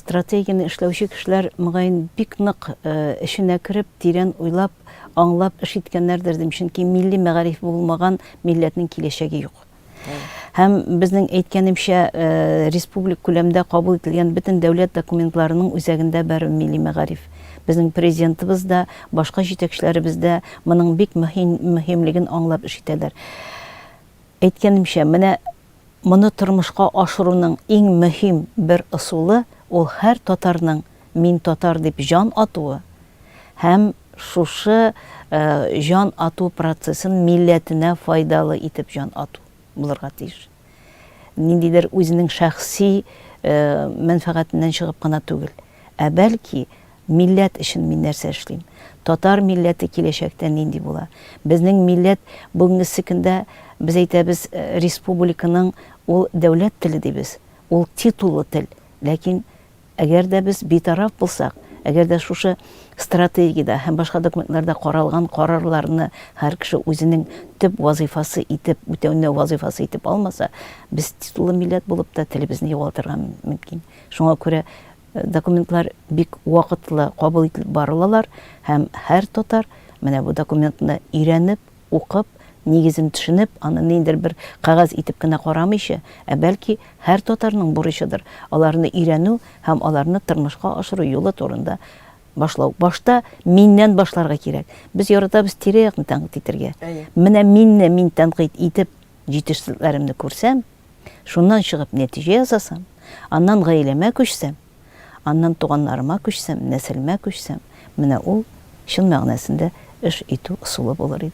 Стратегияне эшләүче кешеләр, мөгаен, бик нык эченә кереп, тирән уйлап, аңлап эш иткәннәрдер, дим, чөнки милли мәгариф булмаган милләтнең киләчәге юк. Һәм безнең әйткәнемчә, республик күләмдә кабул ителгән бөтен дәүләт документларының үзәгендә бәрү милли мәгариф. Безнең президентыбыз да, башка җитәкчеләребез дә моның бик мөһимлеген аңлап эш итәләр. Әйткәнемчә, менә Моны тормышка ашыруның иң мөһим бер ысулы ул һәр татарның мин татар дип җан атуы һәм шушы җан ату процессын милләтенә файдалы итеп җан ату булырга тиеш. Ниндидер үзенең шәхси мәнфәгатеннән чыгып кына түгел. ә бәлки, милләт өчен мин нәрсә эшлим? Татар милләте киләчәктә нинди була? Безнең милләт бүгенгесе көндә без әйтәбез, республиканың ул дәүләт теле дибез, ул титуллы тел. Ләкин әгәр дә без битараф булсак, әгәр дә шушы стратегиядә һәм башка документларда каралган карарларны һәр кеше үзенең төп вазыйфасы итеп, үтәүне вазыйфасы итеп алмаса, без титуллы милләт булып та телебезне югалтырга мөмкин. Шуңа күрә документлар бик вакытлы кабул ителеп барылалар һәм һәр татар менә бу документны өйрәнеп, укып, нигезен төшенеп, аны ниндидер бер кәгазь итеп кенә карамыйча, ә бәлки һәр татарның бурычыдыр аларны өйрәнү һәм аларны тырмышка ашыру юлы турында башлау. Башта миннән башларга кирәк. Без яратабыз тирә-якны тәнкыйть итергә. Әйе. Менә минне мин тәнкыйть итеп, җитешсезлекләремне күрсәм, Шуннан чыгып нәтиҗә ясасам, аннан гаиләмә күчсәм, аннан туганнарыма күчсәм, нәселемә күчсәм, менә ул чын мәгънәсендә эш итү ысулы булыр иде.